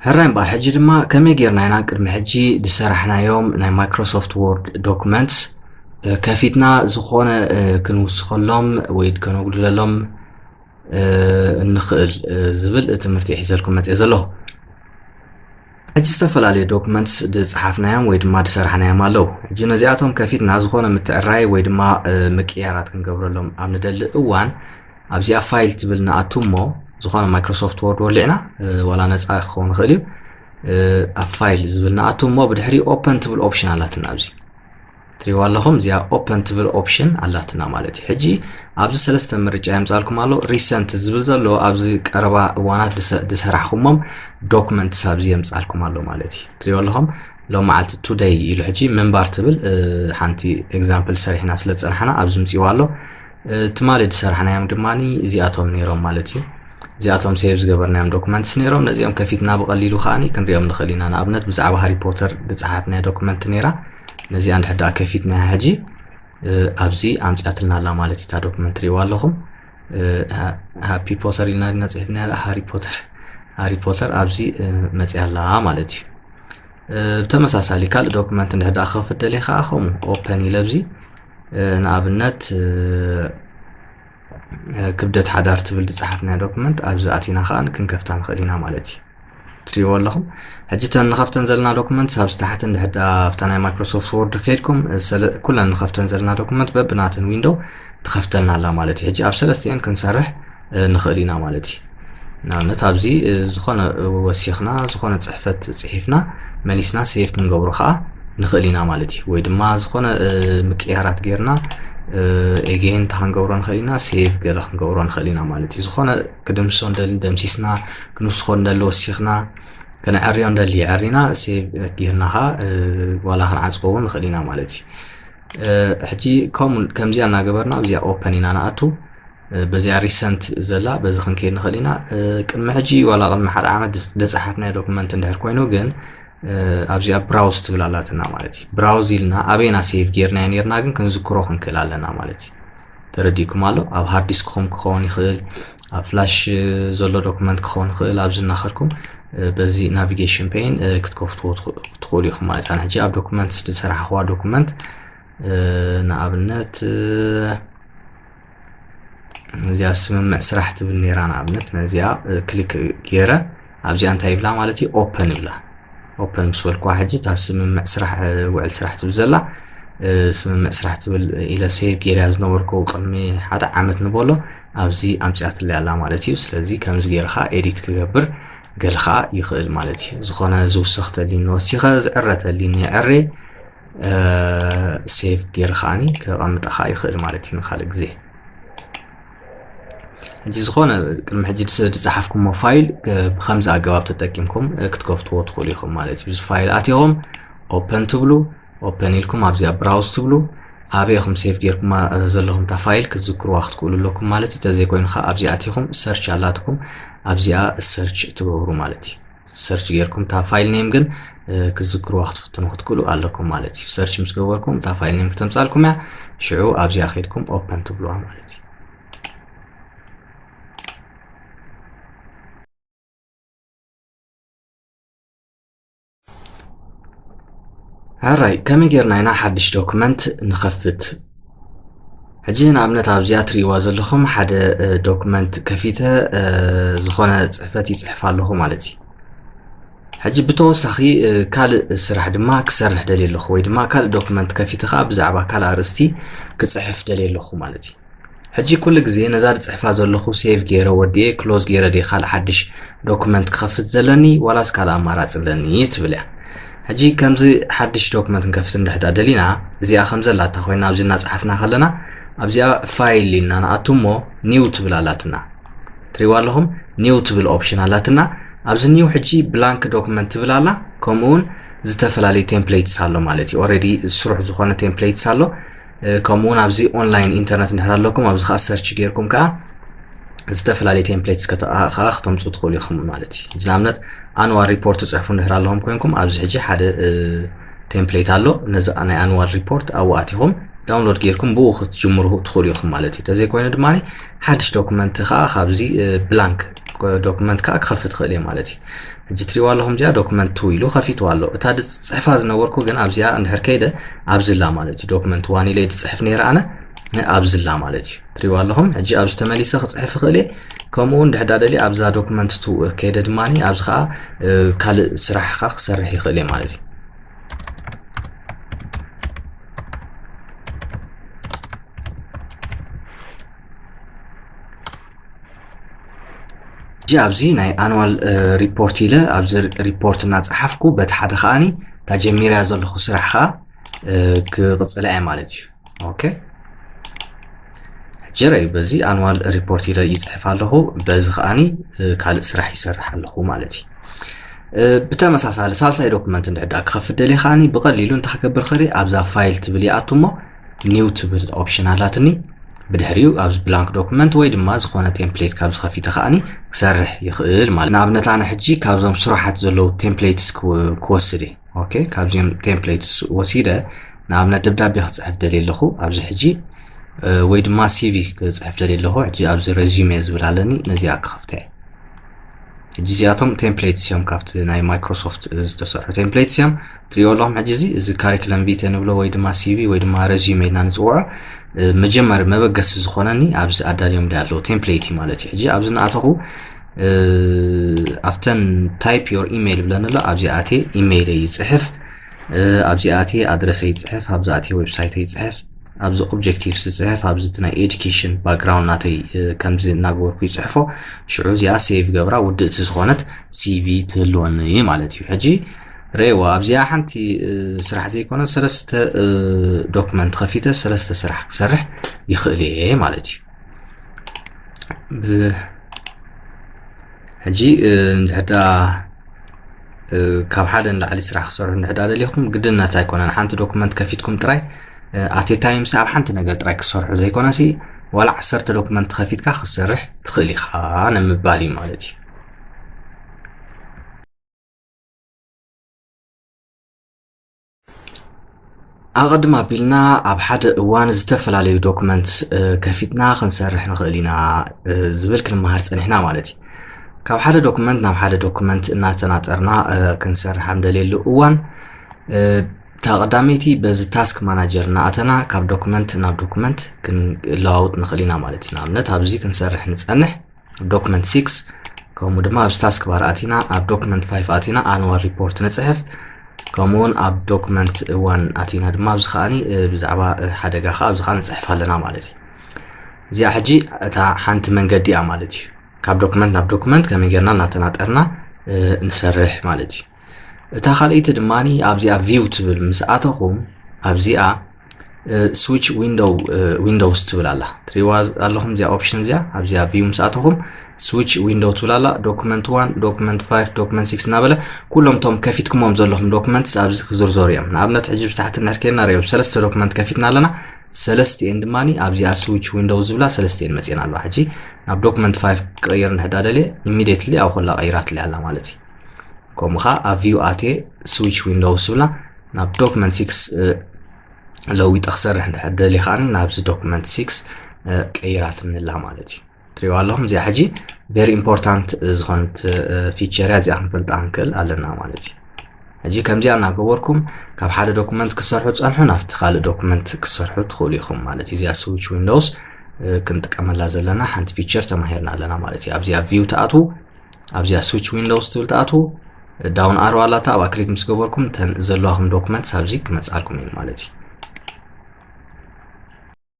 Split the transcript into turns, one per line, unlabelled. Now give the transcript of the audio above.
ሕራይ እምበኣር ሕጂ ድማ ከመይ ጌርና ኢና ቅድሚ ሕጂ ዝሰራሕናዮም ናይ ማይክሮሶፍት ወርድ ዶክመንትስ ከፊትና ዝኾነ ክንውስኸሎም ወይ ከነጉድለሎም እንኽእል ዝብል ትምህርቲ ሒዘልኩም መፅእ ዘለኹ ሕጂ ዝተፈላለየ ዶክመንትስ ዝጸሓፍናዮም ወይ ድማ ዝሰራሕናዮም ኣለዉ ሕጂ ነዚኣቶም ከፊትና ዝኾነ ምትዕራይ ወይ ድማ ምቅያራት ክንገብረሎም ኣብ ንደሊ እዋን ኣብዚኣ ፋይል ትብል ንኣቱ እሞ ዝኾነ ማይክሮሶፍት ወርድ ወሊዕና ዋላ ነፃ ክኸውን ይኽእል እዩ ኣብ ፋይል ዝብል ንኣቱ እሞ ብድሕሪ ኦፐን ትብል ኦፕሽን ኣላትና ኣብዚ ትሪዋ ኣለኹም እዚኣ ኦፐን ትብል ኦፕሽን ኣላትና ማለት እዩ ሕጂ ኣብዚ ሰለስተ ምርጫ የምፃልኩም ኣሎ ሪሰንት ዝብል ዘሎ ኣብዚ ቀረባ እዋናት ዝሰራሕኩሞም ዶክመንትስ ኣብዚ የምፃልኩም ኣሎ ማለት እዩ ትሪኦ ኣለኹም ሎም መዓልቲ ቱደይ ኢሉ ሕጂ ምንባር ትብል ሓንቲ ኤግዛምፕል ሰሪሕና ስለ ዝፀናሕና ኣብዚ ምፅዋ ኣሎ ትማሊ ዝሰራሕናዮም ድማ እዚኣቶም ነይሮም ማለት እዩ እዚኣቶም ሴቭ ዝገበርናዮም ዶክመንትስ ነይሮም ነዚኦም ከፊትና ብቐሊሉ ከዓ ክንሪኦም ንኽእል ኢና ንኣብነት ብዛዕባ ሃሪፖተር ዝፀሓፍናያ ዶክመንት ነይራ ነዚኣ እንድሕር ደኣ ከፊትናያ ሕጂ ኣብዚ ኣምፅኣትና ኣላ ማለት እታ ዶክመንት ሪእዋ ኣለኹም ሃፒ ፖተር ኢልና ድና ፅሒፍና ያላ ሃሪ ፖተር ሃሪ ፖተር ኣብዚ መፅያ ኣላ ማለት እዩ ብተመሳሳሊ ካልእ ዶክመንት እንድሕር ደኣ ክኸፍት ደልየ ከዓ ከምኡ ኦፐን ኢለ ኣብዚ ንኣብነት ክብደት ሓዳር ትብል ዝፀሓፍናያ ዶክመንት ኣብዚ ኣቲና ከዓ ክንከፍታ ንኽእል ኢና ማለት እዩ ትሪእዎ ኣለኹም ሕጂ እተን ንኸፍተን ዘለና ዶክመንት ኣብዚ ታሕቲ እንድሕዳ ኣብታ ናይ ማይክሮሶፍት ወርድ ከይድኩም ኩለን ንኸፍተን ዘለና ዶክመንት በብናተን ዊንዶው ትኸፍተልና ኣላ ማለት እዩ ሕጂ ኣብ ሰለስቲአን ክንሰርሕ ንኽእል ኢና ማለት እዩ ንኣብነት ኣብዚ ዝኾነ ወሲኽና ዝኾነ ፅሕፈት ፅሒፍና መሊስና ሴቭ ክንገብሮ ከዓ ንኽእል ኢና ማለት እዩ ወይ ድማ ዝኾነ ምቅያራት ጌርና ኤጌን እንታይ ክንገብሮ ንኽእል ኢና ሴቭ ገለ ክንገብሮ ንኽእል ኢና ማለት እዩ ዝኾነ ክድምሶ ንደሊ ደምሲስና ክንውስኾ ንደሊ ወሲኽና ከነዕርዮ ንደሊ የዕሪና ሴቭ ጌርና ከዓ ዋላ ክንዓፅቦ እውን ንኽእል ኢና ማለት እዩ ሕጂ ከምዚኣ እናገበርና ኣብዚኣ ኦፐን ኢና ንኣቱ በዚኣ ሪሰንት ዘላ በዚ ክንከይድ ንኽእል ኢና ቅድሚ ሕጂ ዋላ ቅድሚ ሓደ ዓመት ደፀሓፍናዮ ዶክመንት እንድሕር ኮይኑ ግን ኣብዚኣ ብራውዝ ትብል ኣላትና ማለት እዩ ብራውዝ ኢልና ኣበይና ሴቭ ጌርናዮ ነርና ግን ክንዝክሮ ክንክእል ኣለና ማለት እዩ ተረዲእኩም ኣሎ ኣብ ሃርድ ዲስክኹም ክኸውን ይኽእል ኣብ ፍላሽ ዘሎ ዶክመንት ክኸውን ይኽእል ኣብዚ እናኸድኩም በዚ ናቪጌሽን ፔን ክትከፍትዎ ትኽእሉ ኢኹም ማለት ኣነ ሕጂ ኣብ ዶክመንት ዝሰራሕኽዋ ዶክመንት ንኣብነት እዚኣ ስምምዕ ስራሕ ትብል ነራ ንኣብነት ነዚኣ ክሊክ ገይረ ኣብዚኣ እንታይ ይብላ ማለት እዩ ኦፐን ይብላ ኦፐን ምስ በልኩዋ ሕጂ እታ ስምምዕ ስራሕ ውዕል ስራሕ ትብል ዘላ ስምምዕ ስራሕ ትብል ኢለ ሴቭ ገይርያ ዝነበርኩ ቅድሚ ሓደ ዓመት ንበሎ ኣብዚ ኣምፅኣትለይ ኣላ ማለት እዩ ስለዚ ከምዚ ገይርካ ኤዲት ክገብር ገለ ከዓ ይኽእል ማለት እዩ ዝኾነ ዝውሰኽተልኒ ወሲኸ ዝዕረተልኒ ዕሬ ሴቭ ገይረ ከዓኒ ከቐምጣ ከዓ ይኽእል ማለት እዩ ንካልእ ግዜ እዚ ዝኾነ ቅድሚ ሕጂ ዝፀሓፍኩሞ ፋይል ብከምዚ ኣገባብ ተጠቂምኩም ክትከፍትዎ ትኽእሉ ኢኹም ማለት እዩ እዚ ፋይል ኣትኹም ኦፐን ትብሉ ኦፐን ኢልኩም ኣብዚኣ ብራውስ ትብሉ ኣበይ ኢኹም ሴቭ ጌርኩማ ዘለኹም እታ ፋይል ክትዝክርዋ ክትክእሉ ኣለኩም ማለት እዩ ተዘይኮይኑ ከዓ ኣብዚኣ ኣትኹም ሰርች ኣላትኩም ኣብዚኣ ሰርች ትገብሩ ማለት እዩ ሰርች ጌርኩም እታ ፋይል ኔም ግን ክትዝክርዋ ክትፍትኑ ክትክእሉ ኣለኩም ማለት እዩ ሰርች ምስ ገበርኩም እታ ፋይል ኔም ክተምፃልኩም እያ ሽዑ ኣብዚኣ ከድኩም ኦፐን ትብልዋ ማለት እዩ ኣራይ ከመይ ጌርና ኢና ሓድሽ ዶክመንት ንኸፍት ሕጂ ንኣብነት ኣብዚኣ ትርእይዋ ዘለኹም ሓደ ዶክመንት ከፊተ ዝኾነ ፅሕፈት ይፅሕፍ ኣለኹ ማለት እዩ ሕጂ ብተወሳኺ ካልእ ስራሕ ድማ ክሰርሕ ደልየ ኣለኹ ወይ ድማ ካልእ ዶክመንት ከፊተ ከዓ ብዛዕባ ካልእ ኣርእስቲ ክፅሕፍ ደልየ ኣለኹ ማለት እዩ ሕጂ ኩሉ ግዜ ነዛ ድጽሕፋ ዘለኹ ሴቭ ጌረ ወዲኤ ክሎዝ ጌረ ድየ ካልእ ሓድሽ ዶክመንት ክኸፍት ዘለኒ ዋላስ ካልእ ኣማራጺ ኣለኒ ትብል እያ ሕጂ ከምዚ ሓድሽ ዶክመንት ንከፍት እንድሕዳ ደሊና እዚኣ ከም ዘላታ ኮይና ኣብዚ እናጽሓፍና ከለና ኣብዚኣ ፋይል ኢልና ንኣቱ እሞ ኒው ትብል ኣላትና ትሪዋ ኣለኹም ኒው ትብል ኦፕሽን ኣላትና ኣብዚ ኒው ሕጂ ብላንክ ዶክመንት ትብል ኣላ ከምኡውን ዝተፈላለዩ ቴምፕሌትስ ኣሎ ማለት እዩ ኦረዲ ስሩሕ ዝኾነ ቴምፕሌትስ ኣሎ ከምኡ እውን ኣብዚ ኦንላይን ኢንተርነት እንድሕር ኣለኩም ኣብዚ ከዓ ሰርች ጌርኩም ከዓ ዝተፈላለዩ ቴምፕሌትስ ከዓ ክተምፁ ትኽእሉ ኢኹም ማለት እዩ እዚ ንኣብነት ኣንዋል ሪፖርት ትፅሕፉ እንድሕር ኣለኹም ኮይንኩም ኣብዚ ሕጂ ሓደ ቴምፕሌት ኣሎ ነዚ ናይ ኣንዋል ሪፖርት ኣብኡ ኣቲኹም ዳውንሎድ ጌርኩም ብኡ ክትጅምሩ ትኽእሉ ኢኹም ማለት እዩ ተዘይኮይኑ ድማ ሓድሽ ዶክመንት ከዓ ካብዚ ብላንክ ዶክመንት ከዓ ክኸፍት ትኽእል እየ ማለት እዩ ሕጂ ትሪእዋ ኣለኹም እዚኣ ዶክመንት ቱ ኢሉ ከፊትዋ ኣሎ እታ ድፅሕፋ ዝነበርኩ ግን ኣብዚኣ እንድሕር ከይደ ኣብዝላ ማለት እዩ ዶክመንት ዋን ኢለ ድፅሕፍ ነይረ ኣነ ኣብዝላ ማለት እዩ ትሪእዋ ኣለኹም ሕጂ ኣብዚ ተመሊሰ ክፅሕፍ ይኽእል እየ ከምኡ እውን ድሕዳ ደልየ ኣብዛ ዶክመንት ቱ ከይደ ድማ ኣብዚ ከዓ ካልእ ስራሕ ከዓ ክሰርሕ ይኽእል እየ ማለት እዩ ሕጂ ኣብዚ ናይ ኣንዋል ሪፖርት ኢለ ኣብዚ ሪፖርት እናፀሓፍኩ በቲ ሓደ ከዓኒ እታ ጀሚርያ ዘለኹ ስራሕ ከዓ ክቕፅላ እየ ማለት እዩ ኦኬ ሕጂ ረዩ በዚ ኣንዋል ሪፖርት ኢለ ይፅሕፍ ኣለኹ በዚ ከዓኒ ካልእ ስራሕ ይሰርሕ ኣለኹ ማለት እዩ ብተመሳሳሊ ሳልሳይ ዶክመንት እንድሕዳ ክኸፍት ደልየ ከዓኒ ብቐሊሉ እንታይ ክገብር ክእል ኣብዛ ፋይል ትብል ይኣቱ እሞ ኒው ትብል ኦፕሽን ኣላትኒ ብድሕሪኡ ኣብዚ ብላንክ ዶክመንት ወይ ድማ ዝኾነ ቴምፕሌት ካብ ዝኸፊተ ከዓኒ ክሰርሕ ይኽእል ማለት ንኣብነት ኣነ ሕጂ ካብዞም ስራሓት ዘለዉ ቴምፕሌትስ ክወስድ እየ ኦኬ ካብዚኦም ቴምፕሌትስ ወሲደ ንኣብነት ደብዳቤ ክፅሕፍ ደልየ ኣለኹ ኣብዚ ሕጂ ወይ ድማ ሲቪ ክፅሕፍ ደልየ ኣለኹ ሕጂ ኣብዚ ረዚሜ ዝብል ኣለኒ ነዚኣ ክኸፍተ እየ ሕጂ እዚኣቶም ቴምፕሌትስ እዮም ካብቲ ናይ ማይክሮሶፍት ዝተሰርሑ ቴምፕሌትስ እዮም ትሪኦ ኣለኹም ሕጂ እዚ እዚ ካሪክለም ቪተ ንብሎ ወይ ድማ ሲቪ ወይ ድማ ረዚዩመ ኢልና ንፅውዖ መጀመሪ መበገሲ ዝኾነኒ ኣብዚ ኣዳልዮም ዲ ኣለዉ ቴምፕሌት እዩ ማለት እዩ ሕጂ ኣብዚ ንኣተኹ ኣብተን ታይፕ ዮር ኢሜይል ብለን ኣሎ ኣብዚ ኣቴ ኢሜይለይ ይፅሕፍ ኣብዚኣ ኣትየ ኣድረሰ ይፅሕፍ ኣብዚ ኣትየ ዌብሳይተ ይፅሕፍ ኣብዚ ኦብጀክቲቭ ዝፅሕፍ ኣብዚ እቲ ናይ ኤዱኬሽን ባክግራውንድ ናተይ ከምዚ እናገበርኩ ይፅሕፎ ሽዑ እዚኣ ሴቭ ገብራ ውድእቲ ዝኾነት ሲቪ ትህልወኒ እዩ ማለት እዩ ሕጂ ረእዋ ኣብዚኣ ሓንቲ ስራሕ ዘይኮነ ሰለስተ ዶክመንት ከፊተ ሰለስተ ስራሕ ክሰርሕ ይኽእል እየ ማለት እዩ ሕጂ እንድሕር ደኣ ካብ ሓደ ንላዕሊ ስራሕ ክሰርሑ እንድሕር ደኣ ደሊኹም ግድነት ኣይኮነን ሓንቲ ዶክመንት ከፊትኩም ጥራይ ኣቴ ታይምሲ ኣብ ሓንቲ ነገር ጥራይ ክሰርሑ ዘይኮነሲ ዋላ ዓሰርተ ዶክመንት ከፊትካ ክትሰርሕ ትኽእል ኢኻ ንምባል እዩ ማለት እዩ ኣቐድም ኣቢልና ኣብ ሓደ እዋን ዝተፈላለዩ ዶክመንት ከፊትና ክንሰርሕ ንኽእል ኢና ዝብል ክንመሃር ፀኒሕና ማለት እዩ ካብ ሓደ ዶክመንት ናብ ሓደ ዶክመንት እናተናጠርና ክንሰርሕ ኣብ ደልየሉ እዋን እታ ቀዳመይቲ በዚ ታስክ ማናጀር እናኣተና ካብ ዶክመንት ናብ ዶክመንት ክንለዋውጥ ንኽእል ኢና ማለት እዩ ንኣብነት ኣብዚ ክንሰርሕ ንፀንሕ ዶክመንት 6 ከምኡ ድማ ኣብ ስታስክ ባር ኣቲና ኣብ ዶክመንት 5 ኣቲና ኣንዋል ሪፖርት ንፅሕፍ ከምኡውን ኣብ ዶክመንት ዋን ኣቲና ድማ ኣብዚ ከዓኒ ብዛዕባ ሓደጋ ከዓ ኣብዚ ከዓ ንፅሕፍ ኣለና ማለት እዩ እዚኣ ሕጂ እታ ሓንቲ መንገዲ እያ ማለት እዩ ካብ ዶክመንት ናብ ዶክመንት ከመይ ጌርና እናተናጠርና ንሰርሕ ማለት እዩ እታ ካልኣይቲ ድማ ኣብዚ ኣብ ቪው ትብል ምስ ኣተኹም ኣብዚኣ ስዊች ዊንዶውስ ትብል ኣላ ትሪዋ ኣለኹም እዚኣ ኦፕሽን እዚኣ ኣብዚኣ ቪው ምስ ኣተኹም ስዊች ዊንዶው ትብል ኣላ ዶክመንት ዋን ዶክመንት ፋይቭ ዶክመንት ሲክስ እናበለ ኩሎም እቶም ከፊትኩሞም ዘለኹም ዶክመንትስ ኣብዚ ክዝርዘሩ እዮም ንኣብነት ሕጂ ብታሕቲ ንሕርኬና ሪኦ ሰለስተ ዶክመንት ከፊትና ኣለና ሰለስቲኤን ድማ ኣብዚኣ ስዊች ዊንዶው ዝብላ ሰለስቲኤን መፅኤን ኣለዋ ሕጂ ናብ ዶክመንት ፋይቭ ክቕይር ንሕዳ ደልየ ኢሚዲየትሊ ኣብ ኮላ ቀይራትለይ ኣላ ማለት እዩ ከምኡ ከኣ ኣብ ቪው ኣትየ ስዊች ዊንዶው ስብላ ናብ ዶክመንት ሲክስ ለዊጠ ክሰርሕ እንድሕር ደሊ ከዓኒ ናብዚ ዶክመንት ሲክስ ቀይራትንላ ማለት እዩ ትሪዋ ኣለኹም እዚኣ ሕጂ ቨሪ ኢምፖርታንት ዝኾነት ፊቸር እያ እዚኣ ክንፈልጣ ንክእል ኣለና ማለት እዩ ሕጂ ከምዚኣ እናገበርኩም ካብ ሓደ ዶኩመንት ክሰርሑ ትፀንሑ ናብቲ ካልእ ዶኩመንት ክሰርሑ ትኽእሉ ኢኹም ማለት እዩ እዚኣ ስዊች ዊንዶውስ ክንጥቀመላ ዘለና ሓንቲ ፊቸር ተማሂርና ኣለና ማለት እዩ ኣብዚኣ ቪው ትኣትዉ ኣብዚኣ ስዊች ዊንዶውስ ትብል ትኣትዉ ዳውን ኣሮ ኣላታ ኣብኣ ክሊክ ምስ ገበርኩም እተን ዘለዋኹም ዶክመንትስ ኣብዚ ክመፅኣልኩም እዩ ማለት እዩ